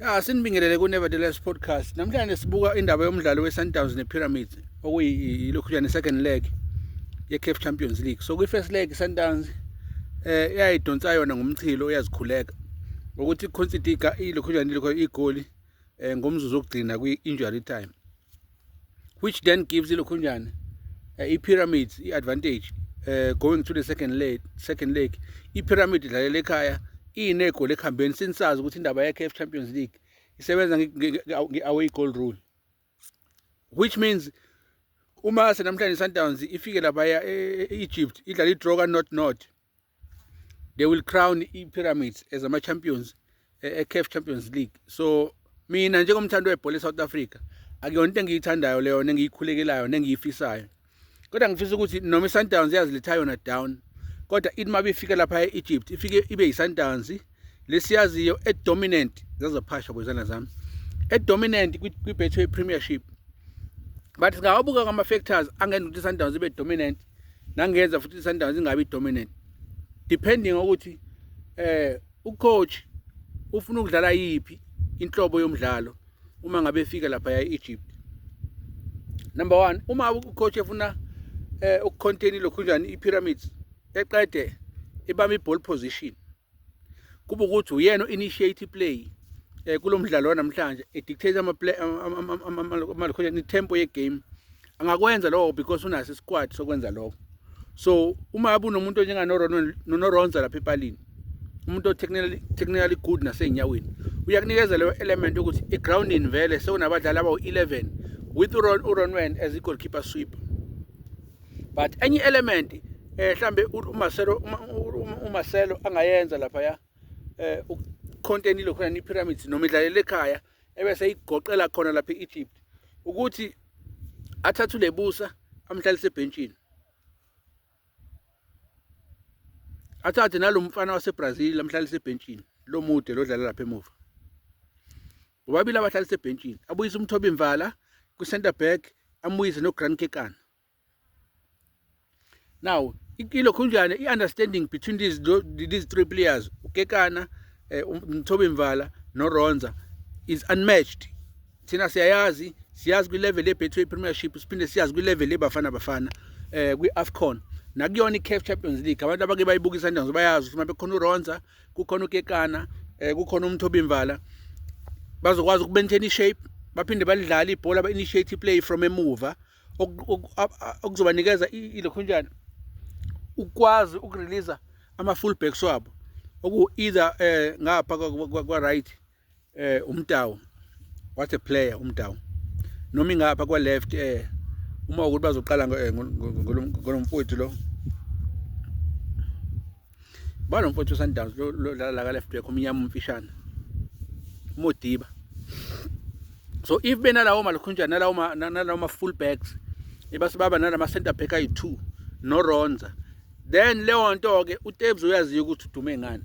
Ya sinibingelele ku Nevertheless podcast. Namhlanje sibuka indaba yomdlalo weSundowns nePyramids okuyilokhuyana second leg yeCAF Champions League. So kwi-first leg iSundowns eh iyayidonsa yona ngomchilo uyazikhuleka ukuthi iConsitica ilokhuyana ilokho igoli eh, ngomzuzu okugcina kwi-injury time. which then gives ilokhunjana uh, eh, i-pyramid i-advantage uh, going to the second leg, second leg. i-pyramid idlalela ekhaya iyinegoli ekuhambeni sinisazi ukuthi indaba ye-caf champions league isebenza nge-away goal rule which means uma senamhlanje i-sundowns ifike lapha e-egypt idlala i-draw ka-not not, not they will crown i-pyramids as ama-champions e-caf champions league so mina njengomthandi webhola e-south africa akuyona into engiyithandayo leyo nengiyikhulekelayo nengiyifisayo kodwa ngifisa ukuthi noma i-sundowns yazilitha yona down kodwa ithi uma bifika lapha e-egypt ifike ibe yi-sundowns lesiyaziyo edominant zazophasha kwezana zami edominant kwi-betway premiership but singawabuka ngama-factors angenza ukuthi i-sundowns ibe dominant nangenza futhi i-sundowns ingabi dominant depending ukuthi eh ucoach ufuna ukudlala yiphi inhlobo yomdlalo uma ngabe efika lapha ya-egypt number one uma ucoach efuna eh ukucontain lokhu njani i-pyramids eqede ibamba i-ball position kube ukuthi uyena u-initiate i-play um kulo mdlalo wanamhlanje edictate i-tempo ye-game angakwenza lokho because unaso isikwad sokwenza lokho so uma abe unomuntu onjenganoronza lapha epalini umuntu o-technically good nasey'nyaweni uyakunikeza leyo element yokuthi i-grounding vele sekunabadlali abawu-11 with uronwen as i-goalkeeper sweeper but enye element eh mhlambe uMarcelo uMarcelo angayenza lapha ya eh ucontent lokho ni pyramids noma idlalele ekhaya ebese igoqela khona lapha eEgypt ukuthi athathe ulebusa amhlalise ebhentshini athathe nalomfana waseBrazil amhlalise ebhentshini lomude lodlala lapha emuva bobabili abadlali sebhentshini abuyise umthobi mvala kwi-center back amuyise no-grand kekana now ikilo khunjane i-understanding between these, these three players ukekana eh, um, mthobi mvala noronza is unmatched thina siyayazi siyazi kwi-level ye-betway premiership siphinde siyazi kwi-level yebafana bafana um kwi-afcon nakuyona i-caf champions league abantu abake bayibukisa ntanzo bayazi ukuthi uma bekhona uronza kukhona ukekana eh kukhona umthobimvala bazokwazi ukumaintain ishape baphinde balidlala ibhola ba-initiate play from emuva okuzobanikeza ilokhunjana ukwazi ukureleasa ama-full backs wabo oku-either um ngapha kwa-right eh umtawu what a player umtawu noma ingapha kwa left eh uma ukuthi bazoqala eh, ngolomfowethu lo balomfowethu Sundowns lo la ka left back umnyama umfishane umodiba so if benalawo malukhunjana nalawo nalawo ma full backs ebasibaba nalama center back ayi2 no Ronza then leyo nto ke uTebs uyaziyo ukuthi udume ngani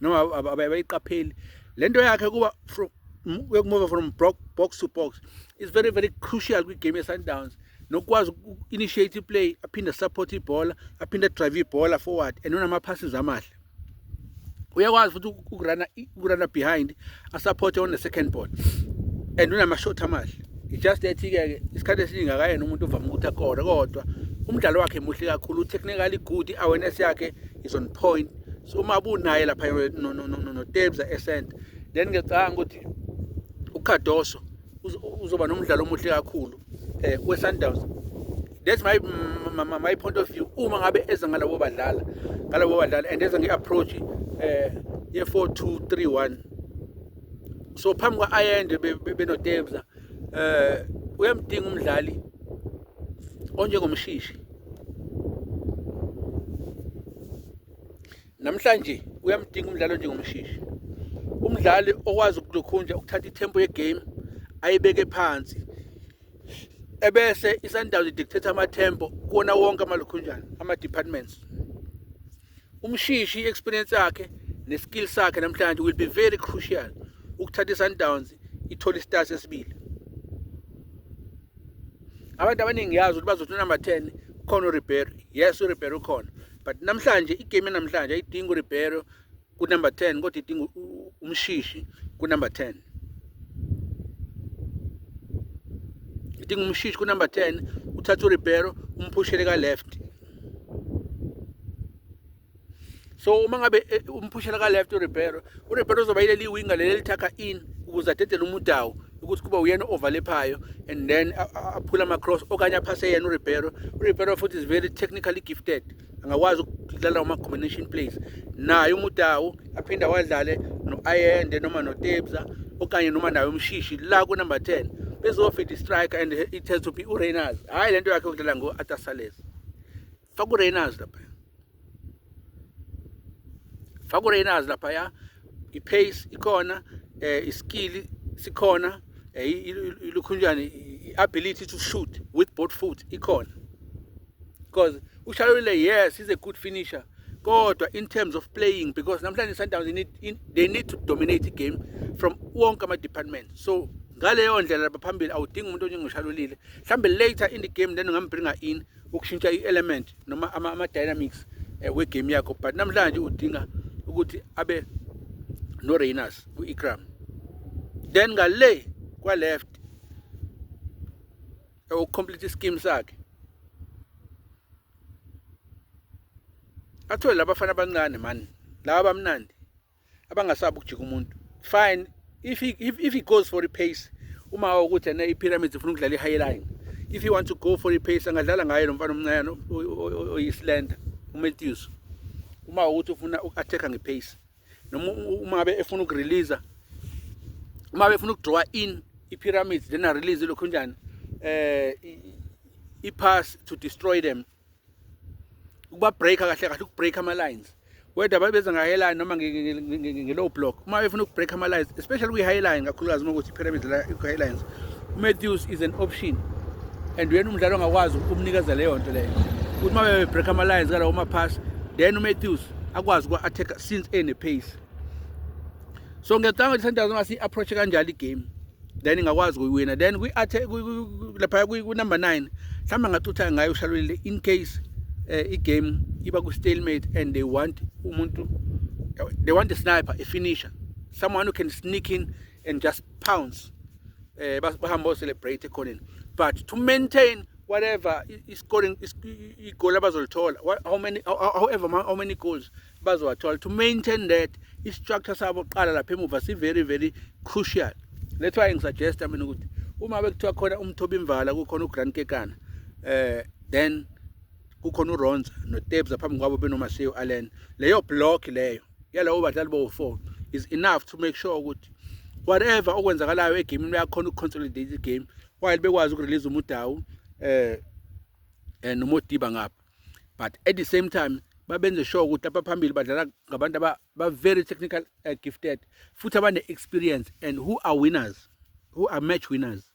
noma abayiqapheli le nto yakhe kuba yokumove from box to box is very very crucial kwigame ye-sundowns nokukwazi uku-initiate iplay aphinde asupporte ibhola aphinde adrive ibhola forward and unama-passes amahle uyakwazi futhi ukurana behind asupporte on the second ball and unama-shot amahle i-just ethi-ke isikhathi esiningi akayena umuntu ovame ukuthi akore kodwa umdlalo wakhe muhle kakhulu u-technically good i-awareness yakhe is on point so uma bunaye lapha notebza esenta then ngiyacanga ukuthi ukhadoso uzoba nomdlalo omuhle kakhulu um eh, we-sundowns that's my, my, my, my point of view uma ngabe eza ngalabo badlala ngalabo badlala and eza nge-approach um eh, ye-four two three one so phambi kwa-ayende benotebza be, be eh uyamdinga umdlali onjengomshishi namhlanje uyamdinga umdlali onjengomshishi umdlali okwazi ukulokhunja ukuthatha itempo yegame ayibeke phansi ebese isundowns idictate amatempo kuwona wonke amalokhunjana ama-departments umshishi i-experience yakhe ne-skill sakhe namhlanje will be very crucial ukuthatha i-sundowns ithole isitasi esibili abantu abaningi yazi ukuthi bazothi unumber 10 khona uribeiro yes uribeiro ukhona but namhlanje igame yanamhlanje ayidingi uribeiro kunumber 10 kodwa idinga umshishi kunumber 10 idinga umshishi kunumber 10 uthatha uribeiro umphushele ka-left so uma ngabe eh, umphushela ka left uRibeiro uRibeiro uzoba yileli winger leli lithakha in ukuze adedele umudawu ukuthi kuba uyena overlephayo and then aphula ama cross okanye aphase yena uRibeiro uRibeiro futhi is very technically gifted angakwazi ukudlala uma combination plays naye umudawu aphinde awadlale no-ayende noma notebza okanye noma nayo umshishi la kunumber 10 bezofida istriker and it has to be ureyners hhayi le nto yakhe yokudlala ngo-atasales faka ureyners lapha faka ureyners lapha ya i-pace ikhona um iskili sikhona um ilukhunjani i-ability to shoot with both foot ikhona because ushalulile yes he's a good finisher kodwa in terms of playing because namhlanje sundowns they need, in, they need to dominate the game from wonke ama-department so ngaleyo ndlela lapha phambili awudingi umuntu onjengoshalulile mhlawumbe later in the game then ungambringa in ukushintsha i-element noma ama-dynamics um eh, wegame yakho but namhlanje udinga ukuthi abe no-rainers ku-ikram then ngale kwa-left ukucomplete iskimu sakhe athole labafana abancane mani laba bamnandi abangasabi ukujika umuntu fine if he, if, if he goes for ipace uma ukuthi ena ipyramids ufuna ukudlala i-high line if he wants to go for ipace angadlala ngaye lo mfana omncane oyislender umatthews uma ukuthi ufuna uku-attack-a ngepace noma uma be efuna ukurelease uma befuna ukudraw in ipyramids then a release lokho njani eh i pass to destroy them ukuba break kahle kahle ukubreak ama lines whether babeza nga highline noma nge low block uma befuna ukubreak ama lines especially kwi highline kakhulukazi uma ukuthi pyramids la i highlights Matthews is an option and uyena umdlalo ongakwazi ukumnikeza leyo nto leyo ukuthi uma bebreak ama lines kalawo ma pass then uMatthews akwazi uku-attack since ene-pace so ngiyacanga ukuthi sundowns uma si-approach-e kanjalo igame then ingakwazi kuyiwina then laphaya kunumber nine mhlawumbe ngacutha ngayo ushalulile in case um igame iba ku-stalemate and they want umuntu they want a sniper a finisher someone who can sneak in and just pounce eh bahamba celebrate ekhoneni but to maintain whatever i-scoring igoli abazolithola how many however how many goals bazowathola to maintain that i-structure sabo qala lapha emuva si-very very crucial that's why ngisuggesta mina ukuthi uma bekuthiwa khona umthobi imvala kukhona ugrand kekana eh then kukhona uronza notebza phambi kwabo benomaseo allen leyo block leyo yalabo badlali bowu-four is enough to make sure ukuthi whatever okwenzakalayo egamini bayakhona uku-consolidate igame while bekwazi ukurelease umudawu um eh, eh, nomodiba ngapha but at the same time babenze sure ukuthi lapha phambili badlala ngabantu aba-very technical uh, gifted futhi abane-experience and who are winners who are match winners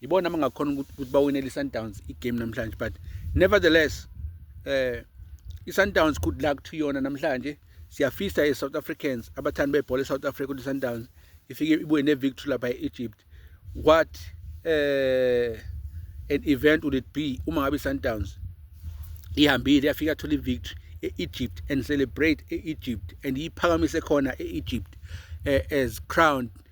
yibona abangakhona ukuthi bawinele i-sundowns igame namhlanje but nevertheless eh i-sundowns good luck to yona namhlanje siyafisa e-south africans abathandi bebhola e-south africa ukuthi i-sundowns ifike ibuye ne-victory lapha e-egypt what eh an event would it be uma ngabe i-sundowns ihambile yafika thola i-victory e-egypt and celebrate e-egypt and iyiphakamise khona e-egypt eh, as crowned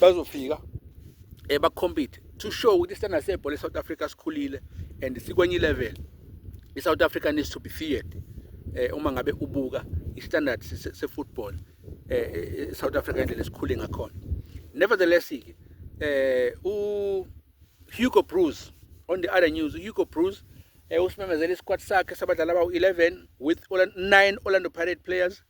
bazofika eh bakhompete to show ukuthi isitanda sebhola eSouth Africa sikhulile and sikwenye level iSouth Africa needs to be feared eh uma ngabe ubuka istandard se football eh, eh, eh South Africa indlela esikhule ngakhona nevertheless ke eh u Hugo Broos on the other news Hugo Broos eh usimemezele isquad sakhe sabadlali abawu 11 with 9 Orlando Pirate players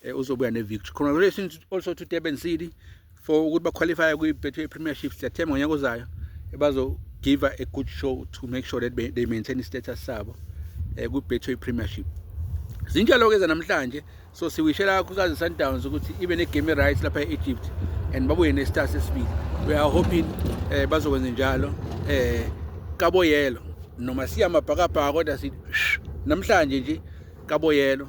eh, uzobuya ne-victory congratulations also to durban city for ukuthi baqualifye kwi-betway premiership siyathemba ngonyaka ozayo bazogiva a good show to make sure that they maintain i-status sabo um kwi-betway premiership zinjalo-ke zanamhlanje so siwishela kakhulukazi sundowns ukuthi ibe ne-game right lapha e-egypt and babuye ne-star sesibili we are hoping um bazokwenza njalo um kaboyelo noma siya mabhakabhaka kodwa sithi namhlanje nje kaboyelo